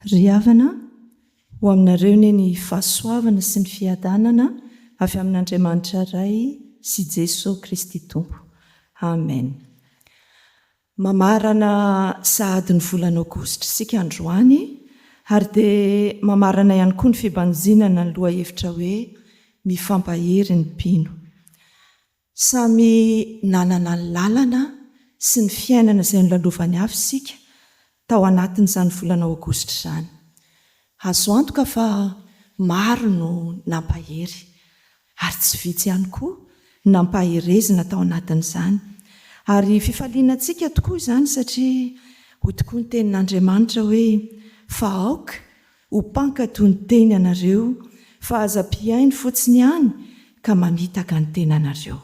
Ry havana, ho aminareo anie ny fahasoavana sy ny fiadanana avy amin'Andriamanitra Ray sy Jesoa Kristy Tompo. Amen. Mamarana sahady ny volana aogositra isika androany ary dia mamarana ihany koa ny fibanjinana ny lohahevitra hoe Mifampahery ny mpino. Samy nanana ny lalana sy ny fiainana izay nolalovan'ny hafa isika tao anatin'izany volana aogositra izany. Azo antoka fa maro no nampahery, ary tsy vitsy ihany koa nampaherezina tao anatin'izany. Ary fifaliana antsika tokoa izany satria hoy tokoa ny Tenin'Andriamanitra hoe, Fa aoka ho mpankato ny teny ianareo, fa aza mpihaino fotsiny ihany ka mamitaka ny tenanareo.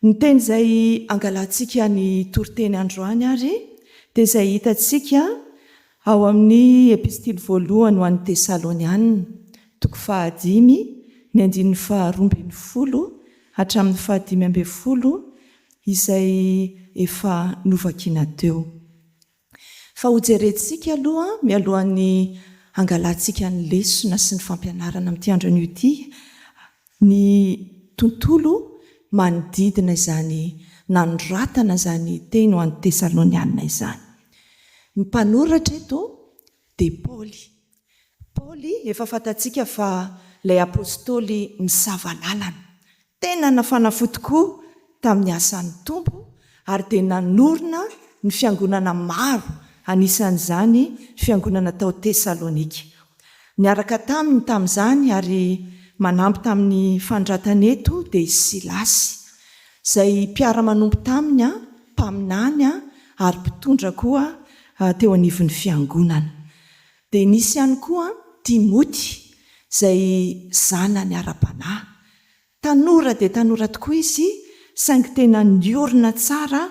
Ny teny izay angalantsika ny toriteny androany àry dia izay hitantsika ao amin'ny Epistily voalohany ho an'ny Tesalonianina, toko fahadimy, ny andininy faharoa ambin'ny folo hatramin'ny fahadimy ambin'ny folo, izay efa novakiana teo. Fa hojerentsika aloha mialohan'ny hangalantsika ny lesona sy ny fampianarana amin'ity andro anio ity ny tontolo manodidina izany nanoratana izany teny ho an'ny Tesalonianina izany. Ny mpanoratra eto dia Paoly. Paoly efa fantatsika fa ilay apostoly misava lalana. Tena nafana fo tokoa tamin'ny asan'ny Tompo ary dia nanorina ny fiangonana maro anisan'izany fiangonana tao Tesalonika. Niaraka taminy tamin'izany ary manampy tamin'ny fanondratany eto dia i Silasy, izay mpiara-manompo taminy, mpaminany ary mpitondra koa teo anivon'ny fiangonana. Dia nisy ihany koa an Timoty, izay zanany ara-panahy. Tanora dia tanora tokoa izy, saingy tena niorina tsara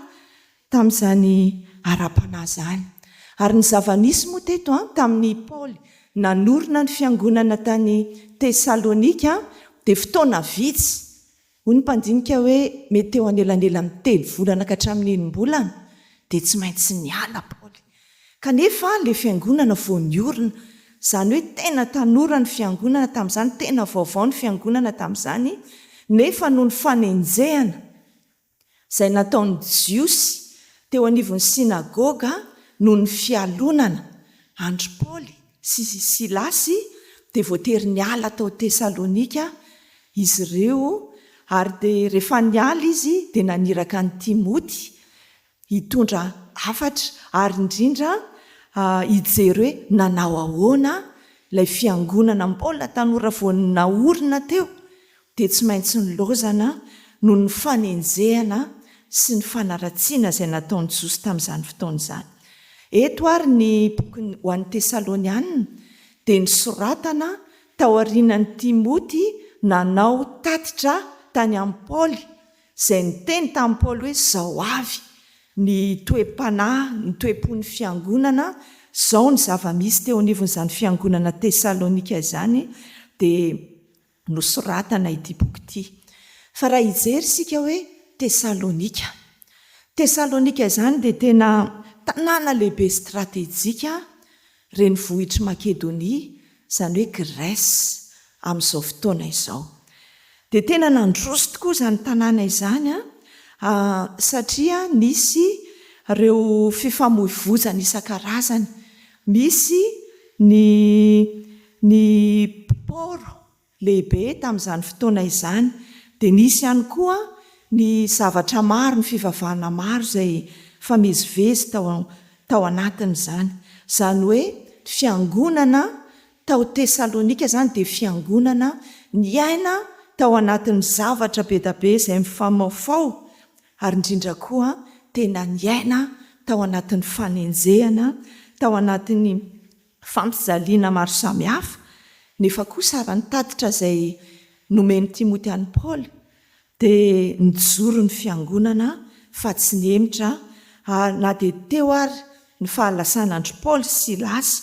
tamin'izany ara-panahy izany. Ary ny zava-nisy moa teto an, tamin'i Paoly nanorina ny fiangonana tany Tesalonika, dia fotoana vitsy, Hoy ny mpandinika hoe, Mety eo anelanelan'ny telo volana ka hatramin'ny enim-bolana dia tsy maintsy niala Paoly. Kanefa ilay fiangonana vao niorina, izany hoe tena tanora ny fiangonana tamin'izany, tena vaovao ny fiangonana tamin'izany, nefa noho ny fanenjehana Izay nataon'ny Jiosy teo anivon'ny synagoga noho ny fialonana andry Paoly sy Silasy dia voatery niala tao Tesalonika izy ireo ary dia rehefa niala izy dia naniraka an'i Timoty hitondra hafatra ary indrindra hijery hoe nanao ahoana ilay fiangonana mbola tanora vao naorina teo dia tsy maintsy nilaozana noho ny fanenjehana sy ny fanaratsiana izay nataon'i Josy tamin'izany fotoana izany. Eto àry ny bokiny ho an'ny Tesalonianina dia nosoratana taorianan'i Timoty nanao tatitra tany amin'i Paoly, izay niteny tamin'i Paoly hoe, Izao avy ny toe-panahy, ny toe-pon'ny fiangonana, izao ny zava-misy teo anivon'izany fiangonana Tesalonika izany, dia nosoratana ity boky ity. Fa raha hijery isika hoe Tesalonika. Tesalonika izany dia tena tanàna lehibe stratejika renivohitr'i Makedonia, izany hoe Grèce amin'izao fotoana izao. Dia tena nandroso tokoa izany tanàna izany satria nisy ireo fifamoivoizana isan-karazany Misy ny ny port lehibe tamin'izany fotoana izany, dia nisy ihany koa ny zavatra maro, ny fivavahana maro izay famezivezy tao tao anatin'izany. Izany hoe fiangonana tao Tesalonika izany dia fiangonana niaina tao anatin'ny zavatra be dia be izay mifamaofao Ary indrindra koa tena niaina tao anatin'ny fanenjehana, tao anatin'ny fampijaliana maro samihafa, nefa kosa raha ny tatitra izay nomen'i Timoty an'i Paoly dia nijoro ny fiangonana fa tsy nihemotra ary na dia teo ary ny fahalasana an-dry Paoly sy Silasy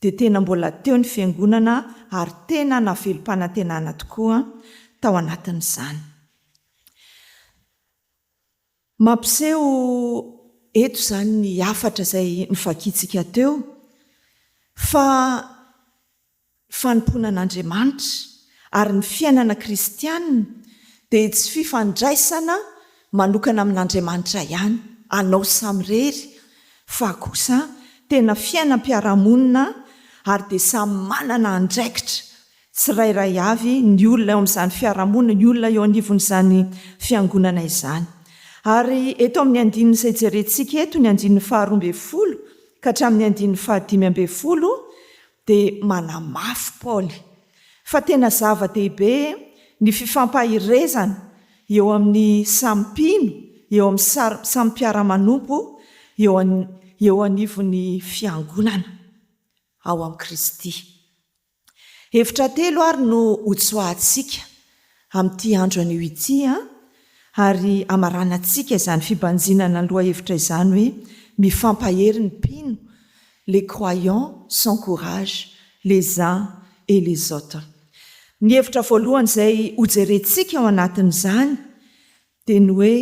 dia tena mbola teo ny fiangonana ary tena navelom-panantenana tokoa tao anatin'izany. Mampiseho eto izany ny hafatra izay novakiantsika teo fa ny fanompoana an'Andriamanitra ary ny fiainana kristiana dia tsy fifandraisana manokana amin'Andriamanitra ihany, anao samirery, fa kosa tena fiainam-piarahamonina ary dia samy manana andraikitra tsirairay avy, ny olona eo amin'izany fiarahamonina, ny olona eo anivon'izany fiangonana izany. Ary eto amin'ny andininy izay jerentsika eto, ny andininy faharoa ambin'ny folo ka hatramin'ny andininy fahadimy ambin'ny folo, dia manamafy Paoly fa tena zava-dehibe ny fifampaherezana eo amin'ny samy mpino, eo amin'ny samy mpiara-manompo eo eo anivon'ny fiangonana ao amin'i Kristy. Hevitra telo ary no hotsoahantsika amin'ity andro anio ity ary hamaranantsika izany fibanjinana ny lohahevitra izany hoe Mifampahery ny mpino, Les croyants s'encouragent les uns et les autres. Ny hevitra voalohany izay hojerentsika ao anatin'izany dia ny hoe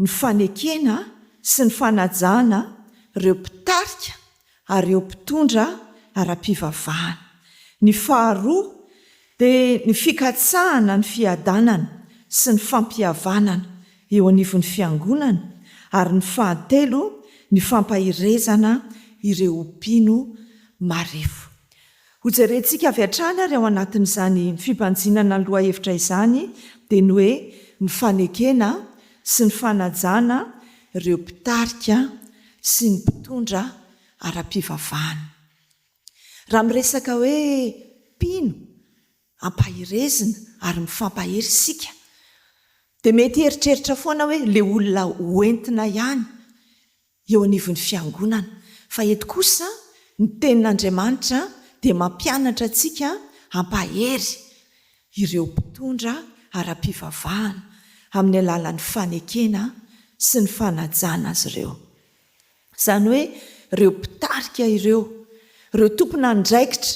ny fanekena sy ny fanajana ireo mpitarika ary ireo mpitondra ara-pivavahana. Ny faharoa dia ny fikatsahana ny fiadanana sy ny fampihavanana eo anivon'ny Fiangonana ary ny fahatelo ny fampaherezana ireo mpino marefo. Hojerentsika avy hatrany ary ao anatin'izany fibanjinana ny lohahevitra izany dia ny hoe ny fanekena sy ny fanajana ireo mpitarika sy ny mpitondra ara-pivavahana. Raha miresaka hoe mpino ampaherezina ary mifampahery isika dia mety hieritreritra foana hoe ilay olona ho entina ihany eo anivon'ny fiangonana, fa eto kosa ny tenin'Andriamanitra dia mampianatra antsika hampahery ireo mpitondra ara-pivavahana amin'ny alalan'ny fanekena sy ny fanajana azy ireo. Izany hoe ireo mpitarika ireo, ireo tompon'andraikitra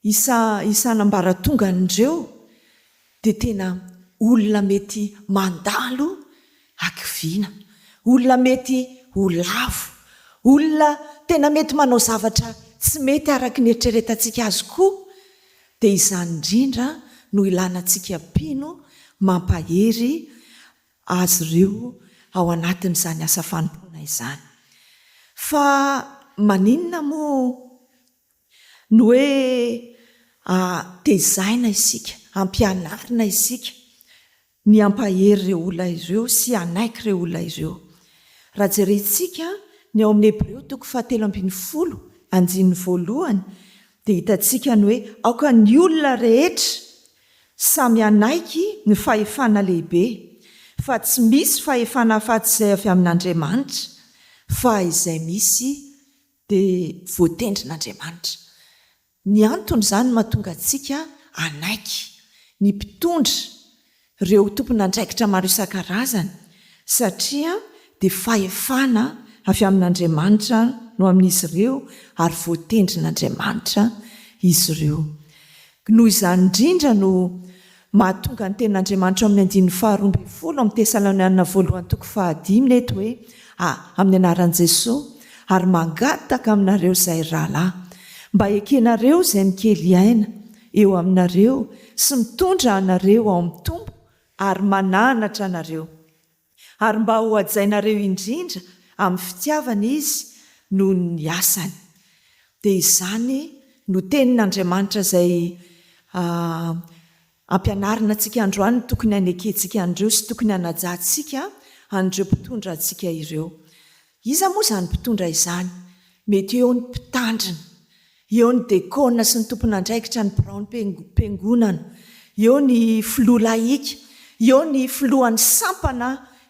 Isa isan'ambaratongan'ireo dia tena olona mety mandalo hakiviana, olona mety ho lavo, olona tena mety manao zavatra tsy mety araka ny eritreretantsika azy koa, dia izany indrindra no ilanantsika mpino mampahery azy ireo ao anatin'izany asa fanompoana izany. Fa maninona moa Ny hoe tezaina isika, ampianarina isika ny hampahery ireo olona ireo sy hanaiky ireo olona ireo. Raha jerentsika ny ao amin'ny Hebreo toko fahatelo ambin'ny folo andininy voalohany dia hitantsika ny hoe aoka ny olona rehetra samy hanaiky ny fahefana lehibe, fa tsy misy fahefana afa-tsy izay avy amin'Andriamanitra, fa izay misy dia voatendrin'Andriamanitra. Ny antony izany mahatonga antsika hanaiky ny mpitondra, ireo tompon'andraikitra maro isan-karazany, satria dia fahefana avy amin'Andriamanitra no amin'izy ireo ary voatendrin'Andriamanitra izy ireo. Noho izany indrindra no Mahatonga ny tenin'Andriamanitra ao amin'ny andininy faharoa ambin'ny folo amin'ny Tesalonianina voalohany toko fahadimy ny eto hoe, A, amin'ny anaran'i Jesoa, ary mangataka aminareo izay rahalahy, mba hekenareo izay mikely aina eo aminareo sy mitondra anareo ao amin'ny Tompo ary mananatra anareo. ary mba ho hajainareo indrindra amin'ny fitiavana izy noho ny asany. Dia izany no tenin'Andriamanitra izay ampianarina antsika androany no tokony hanekentsika an'ireo sy tokony hanajantsika an'ireo mpitondra antsika ireo. Iza moa izany mpitondra izany? Mety eo ny mpitandrina, eo ny dekôna sy ny tompon'andraikitra ny biraon'ny Fiangonana, eo ny filoha lahika, eo ny filohan'ny sampana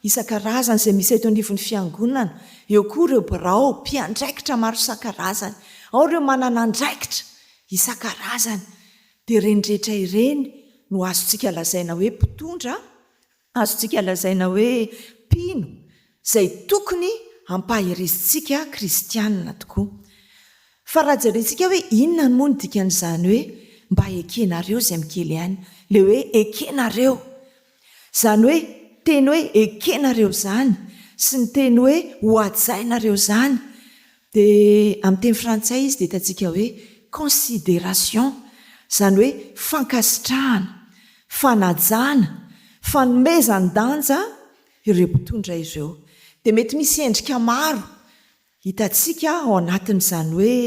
isan-karazany izay misy eto anivon'ny Fiangonana, eo koa ireo birao, mpiandraikitra maro isan-karazany, ao ireo manana andraikitra isan-karazany. Dia ireny rehetra ireny no azontsika lazaina hoe mpitondra Azontsika lazaina hoe mpino izay tokony hampaherezintsika kristiana tokoa. Fa raha jerentsika hoe inona moa no dikan'izany hoe mba ekenareo izay mikely any, ilay hoe ekenareo. Izany hoe teny hoe ekenareo izany sy ny teny hoe hohajainareo izany Dia amin'ny teny frantsay izy dia hitantsika hoe considération, izany hoe fankasitrahana, fanajana, fanomezan-danja ireo mpitondra ireo. Dia mety misy endrika maro hitantsika ao anatin'izany hoe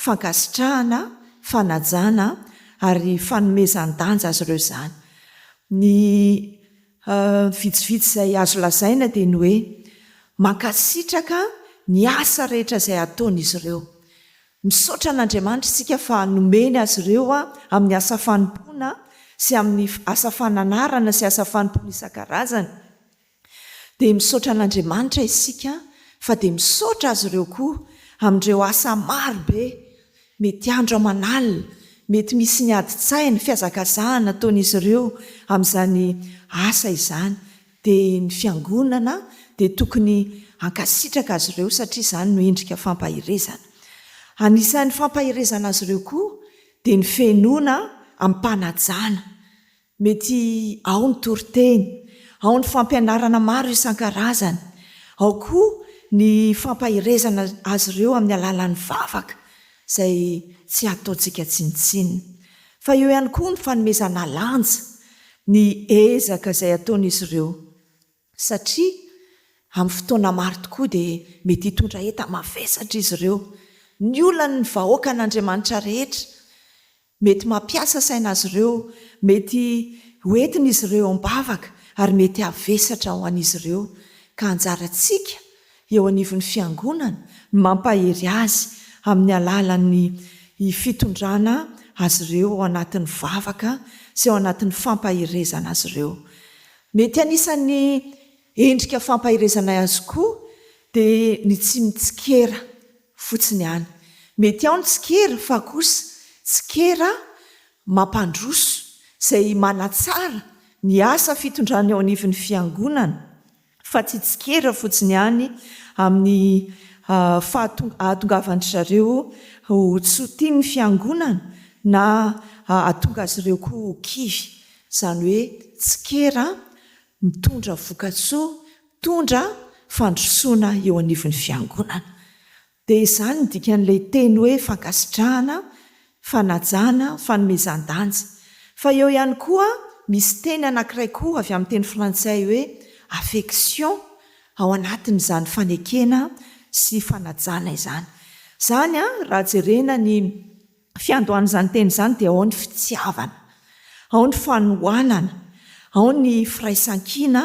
fankasitrahana, fanajana ary fanomezan-danja azy ireo izany. Ny. Ny vitsivitsy izay azo lazaina dia ny hoe mankasitraka ny asa rehetra izay ataon'izy ireo. Misaotra an'Andriamanitra isika fa nomeny azy ireo amin'ny asa fanompoana sy amin'ny asa fananarana sy asa fanompoana isan-karazany. Dia misaotra an'Andriamanitra isika fa dia misaotra azy ireo koa amin'ireo asa marobe Mety andro aman'alina, mety misy ny adin-tsaina, fihazakazahana ataon'izy ireo amin'izany asa izany, dia ny Fiangonana dia tokony hankasitraka azy ireo satria izany no endrika fampaherezana. Anisan'ny fampaherezana azy ireo koa dia ny fihenoana amim-panajana, Mety ao ny toriteny, ao ny fampianarana maro isan-karazany, ao koa ny fampaherezana azy ireo amin'ny alalan'ny vavaka izay tsy hataontsika tsinontsinona. Fa eo ihany koa ny fanomezana lanja ny ezaka izay ataon'izy ireo. satria amin'ny fotoana maro tokoa dia mety hitondra enta-mavesatra izy ireo. Ny olany ny vahoakan'Andriamanitra rehetra. Mety mampiasa saina azy ireo, mety ho entin'izy ireo eo am-bavaka, ary mety havesatra ho an'izy ireo. Ka anjarantsika eo anivon'ny Fiangonana ny mampahery azy amin'ny alalan'ny fitondrana azy ireo ao anatin'ny vavaka sy ao anatin'ny fampaherezana azy ireo. Mety anisan'ny endrika fampaherezanay azy koa dia ny tsy mitsikera fotsiny ihany. Mety ao ny tsikera fa kosa tsikera mampandroso izay manatsara ny asa fitondrana eo anivon'ny Fiangonana fa tsy tsikera fotsiny ihany amin'ny fahatongavan-dry zareo ho tsy ho tian'ny Fiangonana na hahatonga azy ireo koa ho kivy Izany hoe tsikera mitondra vokatsoa, mitondra fandrosoana eo anivon'ny Fiangonana. Dia izany no dikan'ilay teny hoe fankasitrahana, fanajana, fanomezan-danja. Fa eo ihany koa misy teny anankiray koa avy amin'ny teny frantsay hoe affection ao anatin'izany fanekena sy fanajana izany. Izany raha jerena ny. Fiandohan'izany teny izany dia ao ny fitiavana, ao ny fanohanana, ao ny firaisan-kina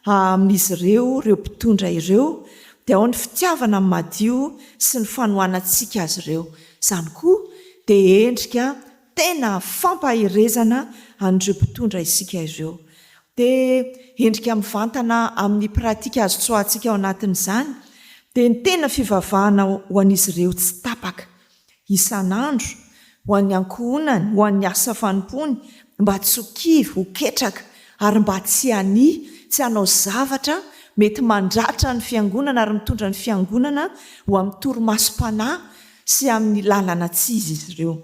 amin'izy ireo, ireo mpitondra ireo, dia ao ny fitiavana madio sy ny fanohanantsika azy ireo. Izany koa dia endrika tena fampaherezana an'ireo mpitondra isika ireo. Dia endrika mivantana amin'ny pratika azo tsoahantsika ao anatin'izany dia ny tena fivavahana ho an'izy ireo tsy tapaka. isan'andro, ho an'ny ankohonany, ho an'ny asa fanompoany, mba tsy ho kivy, ho ketraka, ary mba tsy hania, tsy hanao zavatra mety mandratra ny Fiangonana ary mitondra ny Fiangonana ho amin'ny torimasom-panahy sy amin'ny lalana tsy izy izy ireo.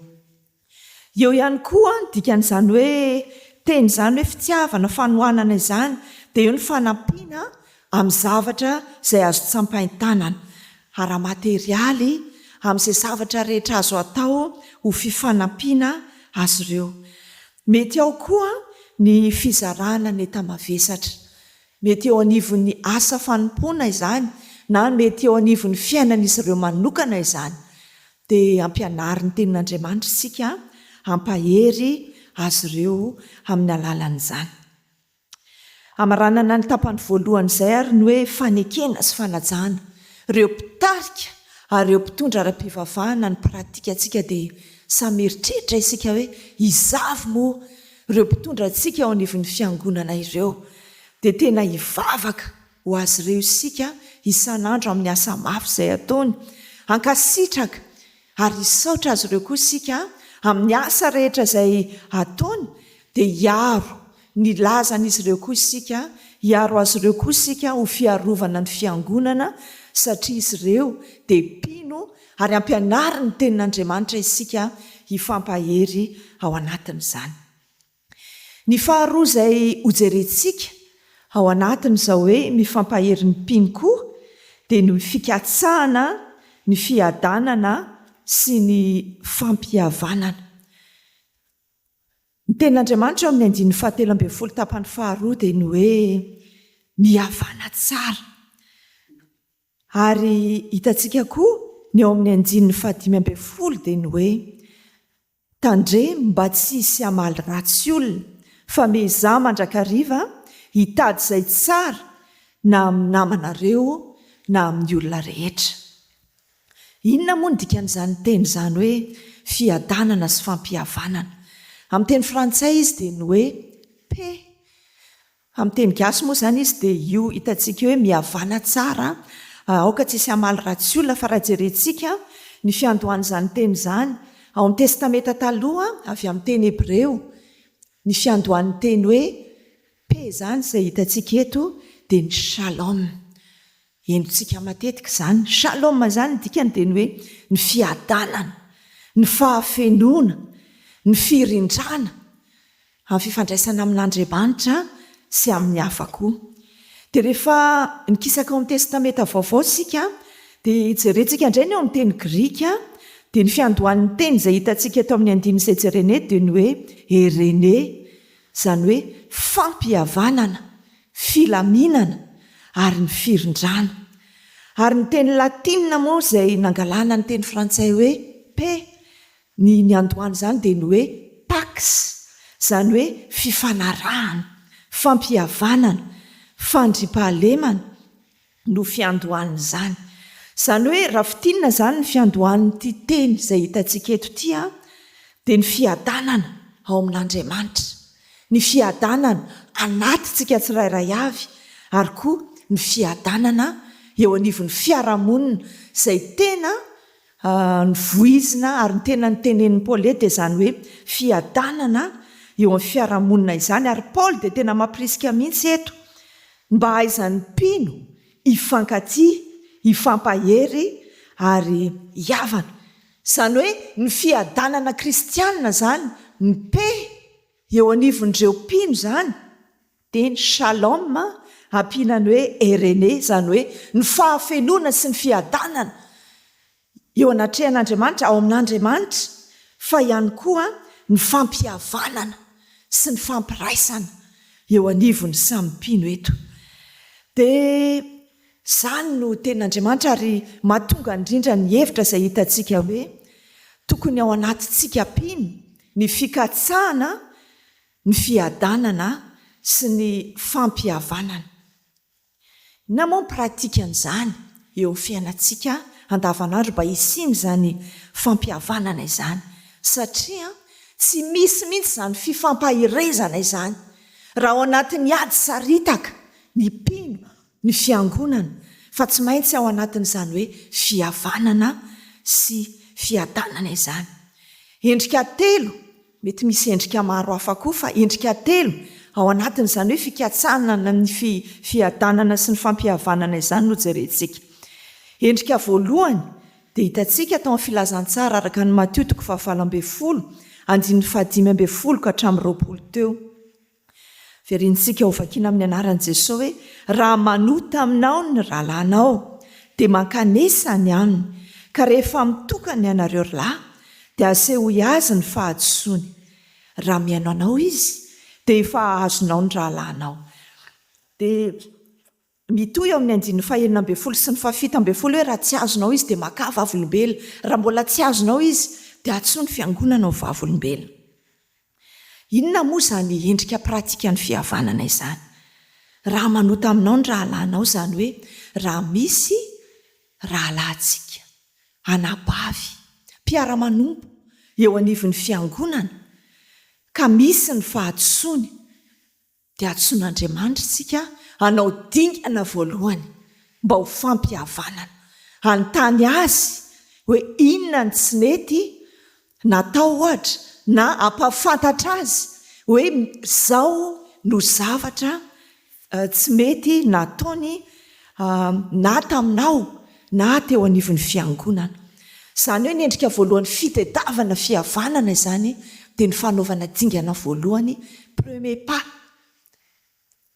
Eo ihany koa ny dikan'izany hoe teny izany hoe fitiavana, fanohanana izany, dia eo ny fanampiana amin'ny zavatra izay azo tsapain-tanana, ara-materialy, amin'izay zavatra rehetra azo atao ho fifanampiana azy ireo. Mety ao koa ny fizarana ny enta-mavesatra. Mety eo anivon'ny asa fanompoana izany na mety eo anivon'ny fiainan'izy ireo manokana izany. Dia ampianarin'ny Tenin'Andriamanitra isika hampahery azy ireo amin'ny alalan'izany. Hamaranana ny tapany voalohany izay ary ny hoe fanekena sy fanajana. Ireo mpitarika ary ireo mpitondra ara-pivavahana ny pratikantsika dia samy mieritreritra isika hoe iza avy moa ireo mpitondra antsika eo anivon'ny fiangonana ireo. Dia tena hivavaka ho azy ireo isika isan'andro amin'ny asa mafy izay ataony hankasitraka Ary hisaotra azy ireo koa isika amin'ny asa rehetra izay ataony, dia hiaro ny lazan'izy ireo koa isika, hiaro azy ireo koa isika ho fiarovana ny Fiangonana, satria izy ireo dia mpino ary ampianarin'ny Tenin'Andriamanitra isika hifampahery ao anatin'izany. Ny faharoa izay hojerentsika ao anatin'izao hoe mifampahery ny mpino koa dia ny fikatsahana ny fiadanana sy ny fampihavanana. Ny tenin'Andriamanitra ao amin'ny andininy fahatelo ambin'ny folo tapany faharoa dia ny hoe mihavana tsara. Ary hitantsika koa ny ao amin'ny andininy fahadimy ambin'ny folo dia ny hoe Tandremo mba tsy hisy hamaly ratsy olona fa miezaha mandrakariva hitady izay tsara na amin'ny namanareo na amin'ny olona rehetra. Inona moa ny dikan'izany teny izany hoe fiadanana sy fampihavanana? Amin'ny teny frantsay izy dia ny hoe paix. Amin'ny teny gasy moa izany izy dia io hitantsika hoe mihavàna tsara aoka tsy hisy hamaly ratsy olona fa raha jerentsika ny fiandohan'izany teny izany ao amin'ny testamenta taloha avy amin'ny teny hebreo ny fiandohan'ny teny hoe paix izany izay hitantsika eto dia ny shalom Henontsika matetika izany. Shalom izany ny dikany dia ny hoe ny fiadanana, ny fahafenoana, ny firindrana amin'ny fifandraisana amin'Andriamanitra sy amin'ny hafa koa. Dia rehefa nikisaka ao amin'ny Testamenta Vaovao isika dia jerentsika indray ny ao amin'ny teny grika dia ny fiandohan'ny teny izay hitantsika eto amin'ny andininy izay jerena eto dia ny hoe Eirene izany hoe fampihavanana filaminana ary ny firindrana. Ary ny teny latina moa izay nangalana ny teny frantsay hoe paix ny niandohany izany dia ny hoe pax, izany hoe fifanarahana, fampihavanana, fandriampahalemana, no fiandohan'izany. Izany hoe raha fintinina izany ny fiandohan'ity teny izay hitantsika eto ity an, dia ny fiadanana ao amin'Andriamanitra, ny fiadanana anatintsika tsirairay avy ary koa ny fiadanana eo anivon'ny fiarahamonina izay tena A Ny voizina ary ny tena notenenin'i Paule dia izany hoe fiadanana eo amin'ny fiarahamonina izany, ary Paule dia tena mampirisika mihitsy eto ny mba hahaizan'ny mpino hifankatia, hifampahery ary hihavana. Izany hoe ny fiadanana kristianina izany, mipehy eo anivon'ireo mpino izany. Teny Shalom ampiana ny hoe Eirene, izany hoe ny fahafenoana sy ny fiadanana eo anatrehan'Andriamanitra, ao amin'Andriamanitra, fa ihany koa ny fampihavanana sy ny fampiraisana eo anivon'ny samy mpino eto. Dia izany no tenin'Andriamanitra ary mahatonga indrindra ny hevitra izay hitantsika hoe tokony ao anatintsika mpino ny fikatsahana Ny fiadanana sy ny fampihavanana. Inona moa ny pratikan'izany eo amin'ny fiainantsika andavanandro mba hisian'izany fampihavanana izany? Satria tsy misy mihitsy izany fifampaherezana izany raha ao anatin'ny ady saritaka ny mpino, ny fiangonana, fa tsy maintsy ao anatin'izany hoe fihavanana sy fiadanana izany. Endrika telo Mety misy endrika maro hafa koa fa endrika telo ao anatin'izany hoe fikatsahana na ny fiadanana sy ny fampihavanana izany no jerentsika. Endrika voalohany dia hitantsika tao amin'ny filazantsara araka an'i Matio toko fahavalo ambin'ny folo, andininy fahadimy ambin'ny folo ka hatramin'ny roapolo teo. Verintsika ho vakiana amin'ny anaran'i Jesoa hoe, Raha manota aminao ny rahalahinao, dia mankanesa ny aminy, ka rehefa mitokana ianareo ry lahy, dia asehoy azy ny fahadisoany. Raha mihaino anao izy, dia efa azonao ny rahalahinao. Dia. Mitohy eo amin'ny andininy fahenina ambin'ny folo sy ny fahafito ambin'ny folo hoe raha tsy azonao izy dia makà vavolombelona. Raha mbola tsy azonao izy dia antsoy ny fiangonana ho vavolombelona. Inona moa izany endrika pratikan'ny fihavanana izany? Raha manota aminao ny rahalahinao izany hoe raha misy rahalahintsika, anabavy, mpiara-manompo eo anivon'ny fiangonana ka misy ny fahadisoany, dia antsoin'Andriamanitra isika hanao dingana voalohany mba ho fampihavanana, hanontany Azy hoe inona no tsy nety natao ohatra na hampahafantatra Azy hoe izao no zavatra tsy mety nataony na taminao na teo anivon'ny fiangonana. Izany hoe ny endrika voalohany fitedavana fihavanana izany dia ny fanaovana dingana voalohany, premier pas.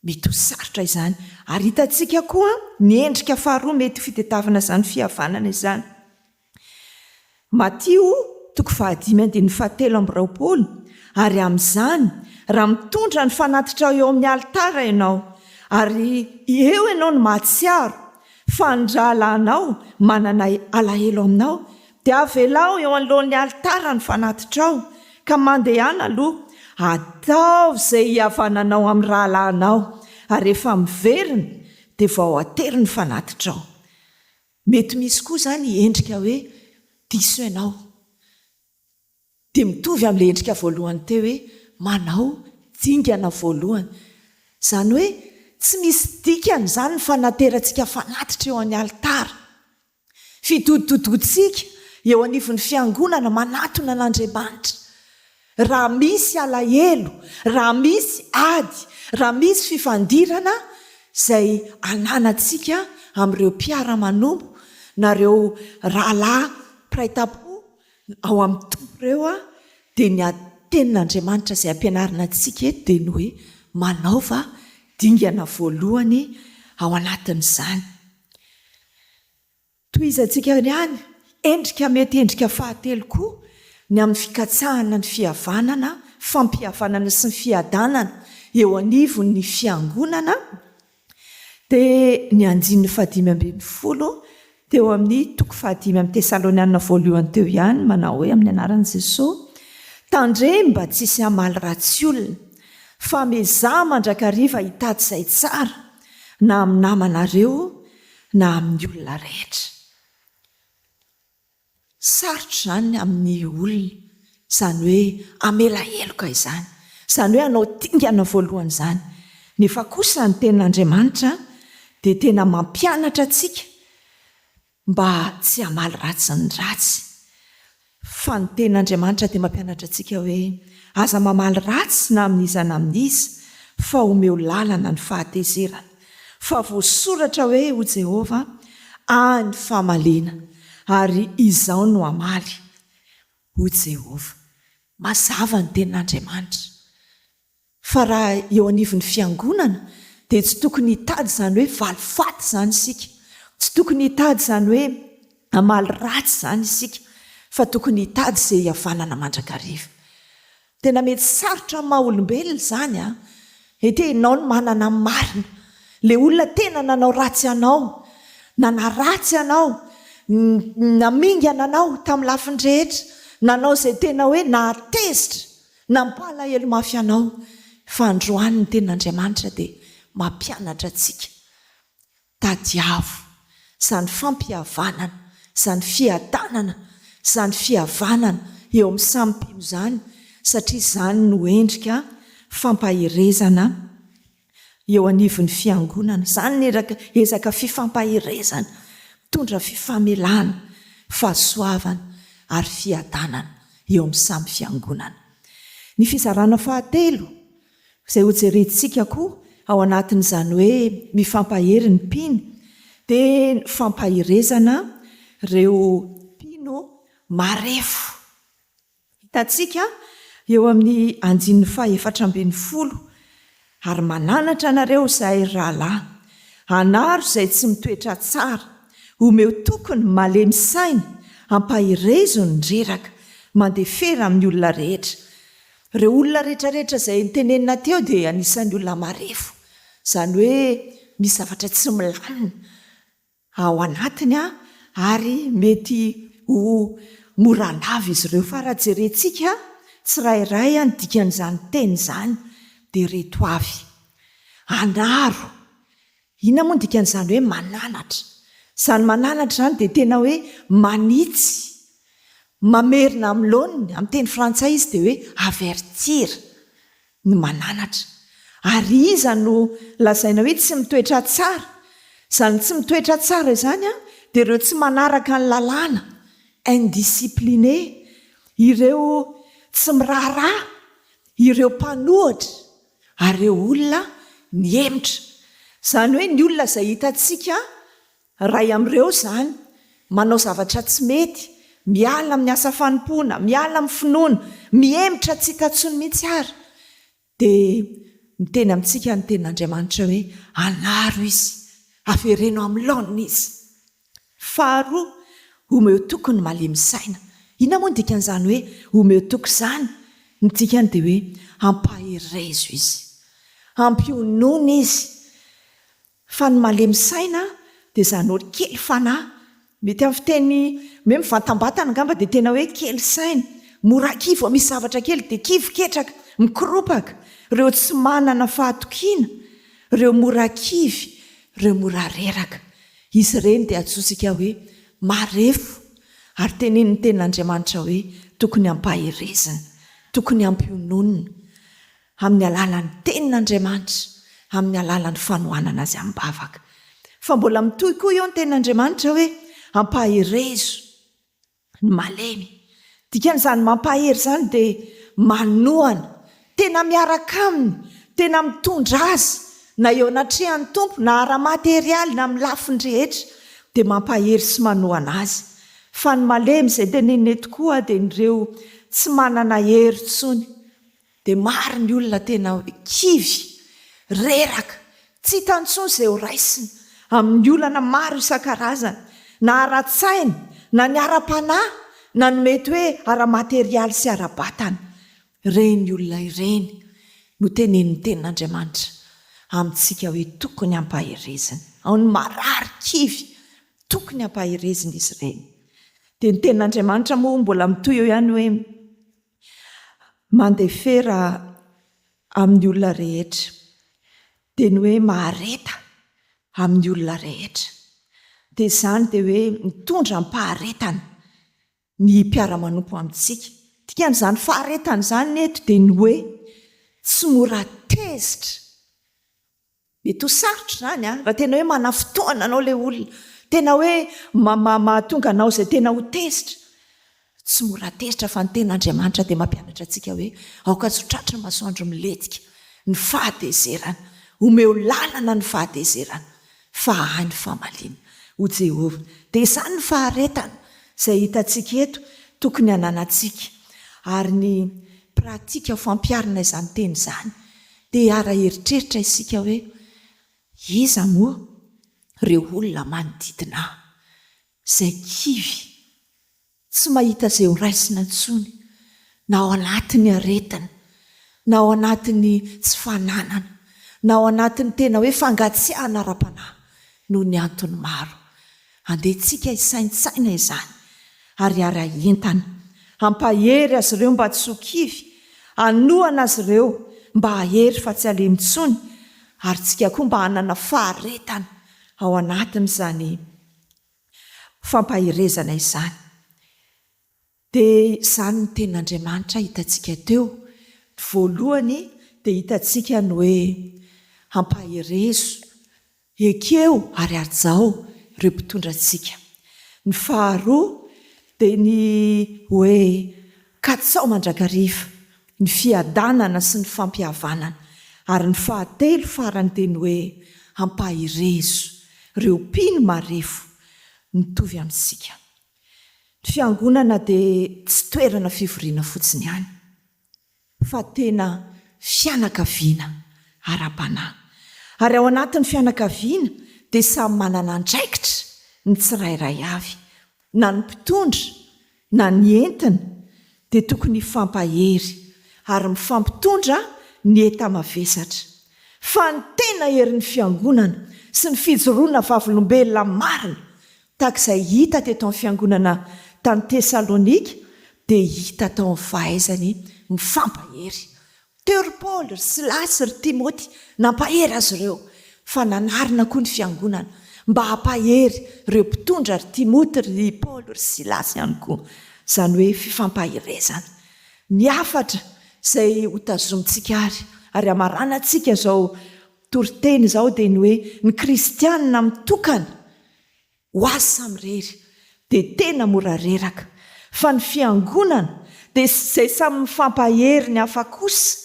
Mety ho sarotra izany. Ary hitantsika koa ny endrika faharoa mety ho fitedavana izany fihavanana izany. Matio toko fahadimy andininy fahatelo amby roapolo Ary amin'izany, raha mitondra ny fanatitrao eo amin'ny alitara ianao, ary eo ianao no mahatsiaro fa ny rahalahinao manana alahelo aminao, dia avelaho eo anoloan'ny alitara ny fanatitrao, ka mandehana aloha, ataovy izay hihavananao amin'ny rahalahinao, ary rehefa miverina, dia vao atery ny fanatitrao. Mety misy koa izany endrika hoe diso ianao. Dia mitovy amin'ilay endrika voalohany teo hoe manao dingana voalohany. Izany hoe tsy misy dikany izany ny fanaterantsika fanatitra eo amin'ny alitara. Fidodododoantsika eo anivon'ny fiangonana manatona an'Andriamanitra. Raha misy alahelo, raha misy ady, raha misy fifandirana izay ananantsika amin'ireo mpiara-manompo na ireo rahalahy mpiray tampo ao amin'ny Tompo ireo dia ny tenin'Andriamanitra izay ampianarina antsika eto dia ny hoe manaova dingana voalohany ao anatin'izany. Tohizantsika ihany, endrika mety endrika fahatelo koa ny amin'ny fikatsahana ny fihavanana, fampihavanana sy ny fiadanana eo anivon'ny Fiangonana, dia ny andininy fahadimy ambin'ny folo teo amin'ny toko fahadimy amin'ny Tesalonianina Voalohany teo ihany, manao hoe, Amin'ny anaran'i Jesoa, tandremo mba tsy hisy hamaly ratsy olona, fa miezaha mandrakariva hitady izay tsara, na amin'ny namanareo, na amin'ny olona rehetra. Sarotra izany amin'ny olona izany hoe hamela heloka izany, izany hoe hanao dingana voalohany izany. Nefa kosa ny Tenin'Andriamanitra dia tena mampianatra antsika mba tsy hamaly ratsy ny ratsy. Fa ny Teny Andriamanitra dia mampianatra antsika hoe, Aza mamaly ratsy na amin'iza na amin'iza, fa omeo lalana ny fahatezerana. Fa voasoratra hoe, Ho Jehovah ahy ny famaliana, ary Izaho no hamaly, hoy Jehovah. Mazava ny Tenin'Andriamanitra. Fa raha eo anivon'ny fiangonana dia tsy tokony hitady izany hoe valifaty izany isika, tsy tokony hitady izany hoe hamaly ratsy izany isika, fa tokony hitady izay hihavanana mandrakariva. Tena mety sarotra amin'ny maha olombelona izany an! Ity ianao no manana ny marina, ilay olona tena nanao ratsy anao, nanaratsy anao, namingana anao tamin'ny lafiny rehetra, nanao izay tena hoe nahatezitra, Nampalahelo mafy anao fa androany ny tenin'Andriamanitra dia mampianatra antsika. Tadiavo izany fampihavanana, izany fiadanana, izany fihavanana eo amin'ny samy mpino izany satria izany no endrika fampaherezana Eo anivon'ny Fiangonana, izany ny ezaka fifampaherezana mitondra fifamelana, fahasoavana ary fiadanana eo amin'ny samy Fiangonana. Ny fizarana fahatelo izay hojerentsika koa ao anatin'izany hoe mifampahery ny mpino dia ny fampaherezana ireo mpino marefo. Hitantsika eo amin'ny andininy fahefatra ambin'ny folo, Ary mananatra anareo izay rahalahy, anaro izay tsy mitoetra tsara, omeo toky ny malemy saina, ampaherezo ny reraka, mandefera amin'ny olona rehetra. Ireo olona rehetrarehetra izay notenenina teo dia anisan'ny olona marefo, izany hoe misy zavatra tsy milamina. ao anatiny ary mety ho mora lava izy ireo. Fa raha jerentsika tsirairay ny dikan'izany teny izany dia ireto avy, anaro. Inona moa ny dikan'izany hoe mananatra? Izany mananatra izany dia tena hoe manitsy, mamerina amin'ny laoniny, amin'ny teny frantsay izy dia hoe avertir. ny mananatra. Ary iza no lazaina hoe tsy mitoetra tsara? Izany tsy mitoetra tsara izany dia ireo tsy manaraka ny lalàna, indiscipliné, ireo tsy miraharaha, ireo mpanohitra, ary ireo olona mihemotra. Izany hoe ny olona izay hitantsika Iray amin'ireo izany, manao zavatra tsy mety, miala amin'ny asa fanompoana, miala amin'ny finoana, mihemotra tsy hita intsony mihitsy ary dia miteny amintsika ny Tenin'Andriamanitra hoe, Anaro izy, avereno amin'ny laoniny izy. Faharoa, omeo toky ny malemy saina. Inona moa ny dikan'izany hoe omeo toky izany? Ny dikany dia hoe ampaherezo izy, ampionona izy, Fa ny malemy saina dia izany hoe kely fanahy. Mety amin'ny fiteny hoe mivantambatana angamba dia tena hoe kely saina. Mora kivy vao misy zavatra kely dia kivy ketraka, mikoropaka. Ireo tsy manana fahatokiana, ireo mora kivy, ireo mora reraka. Izy ireny dia antsointsika hoe marefo. Ary tenenin'ny Tenin'Andriamanitra hoe tokony hampaherezina, tokony hampiononina. amin'ny alalan'ny Tenin'Andriamanitra, amin'ny alalan'ny fanohanana Azy amim-bavaka. Fa mbola mitohy koa eo ny Tenin'Andriamanitra hoe, Ampaherezo ny malemy. Dikan'izany mampahery izany dia manohana, tena miaraka aminy, tena mitondra azy, na eo anatrehan'ny Tompo, na ara-materialy, na amin'ny lafiny rehetra, dia mampahery sy manohana azy. Fa ny malemy, izay teneniny eto koa, dia ireo tsy manana hery intsony. Dia maro ny olona tena kivy, reraka, tsy hita intsony izay ho raisina amin'ny olana maro isan-karazany, na ara-tsaina, na ny ara-panahy, na ny mety hoe ara-materialy sy ara-batana. Ireny olona ireny no tenenin'ny Tenin'Andriamanitra amintsika hoe tokony hampaherezina. Ao ny marary, kivy, tokony hampaherezina izy ireny. Dia ny Tenin'Andriamanitra moa mbola mitohy eo ihany hoe. mandefera amin'ny olona rehetra dia ny hoe mahareta amin'ny olona rehetra dia izany dia hoe mitondra am-paharetana ny mpiara-manompo amintsika. Dikan'izany faharetana izany eto dia ny hoe tsy mora tezitra Mety ho sarotra izany an! Raha tena hoe manafintohina anao ilay olona, tena hoe mahatonga anao izay tena ho tezitra. Tsy mora tezitra fa ny Tenin'Andriamanitra dia mampianatra antsika hoe aoka tsy ho tratry ny masoandro milentika ny fahatezerana. Omeo lalana ny fahatezerana fa ahy ny famaliana, hoy Jehovah. Dia izany ny faharetana izay hitantsika eto tokony hananantsika. Ary ny pratika fampiharana izany teny izany Te hara-eritreritra isika hoe, Iza moa ireo olona manodidina ahy, izay kivy, tsy mahita izay ho raisina intsony, na ao anatin'ny aretina, na ao anatin'ny tsy fananana, na ao anatin'ny tena hoe fangatsiahana ara-panahy, noho ny antony maro. Andehantsika hisaintsaina izany ary haray entana. Hampahery azy ireo mba tsy ho kivy, hanohana azy ireo mba hahery fa tsy halemy intsony, ary tsika koa mba hanana faharetana ao anatin'izany fampaherezana izany. Dia izany ny tenin'Andriamanitra hitantsika teo. Ny voalohany dia hitantsika ny hoe, Ampaherezo, ekeo ary hajao ireo mpitondra antsika. Ny faharoa dia ny hoe, Katsao mandrakariva ny fiadanana sy ny fampihavanana. Ary ny fahatelo farany dia ny hoe, Ampaherezo ireo mpino marefo mitovy amintsika. Ny fiangonana dia tsy toerana fivoriana fotsiny ihany, fa tena fianakaviana ara-panahy. Ary ao anatin'ny fianakaviana dia samy manana andraikitra ny tsirairay avy, na ny mpitondra na ny entina dia tokony hifampahery ary mifampitondra ny enta-mavesatra. Fa ny tena herin'ny fiangonana sy ny fijoroana vavolombelona marina Tahaka izay hita teto amin'ny fiangonana tany Tesalonika, dia hita tao ny fahaizany mifampahery. Teo ry Paoly, ry Silasy, ry Timoty nampahery azy ireo, fa nanarina koa ny fiangonana mba hampahery ireo mpitondra ry Timoty, ry Paoly, ry Silasy ihany koa. Izany hoe fifampaherezana. Ny hafatra izay hotazomintsika àry, ary hamaranantsika izao. Toriteny izao dia ny hoe ny kristiana mitokana ho azy samy irery dia tena mora reraka, fa ny fiangonana dia izay samy mifampahery ny hafa kosa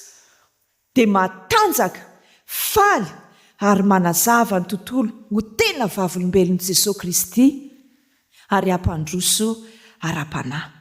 dia matanjaka, faly ary manazava ny tontolo ho tena vavolombelon'i Jesoa Kristy ary hampandroso ara-panahy.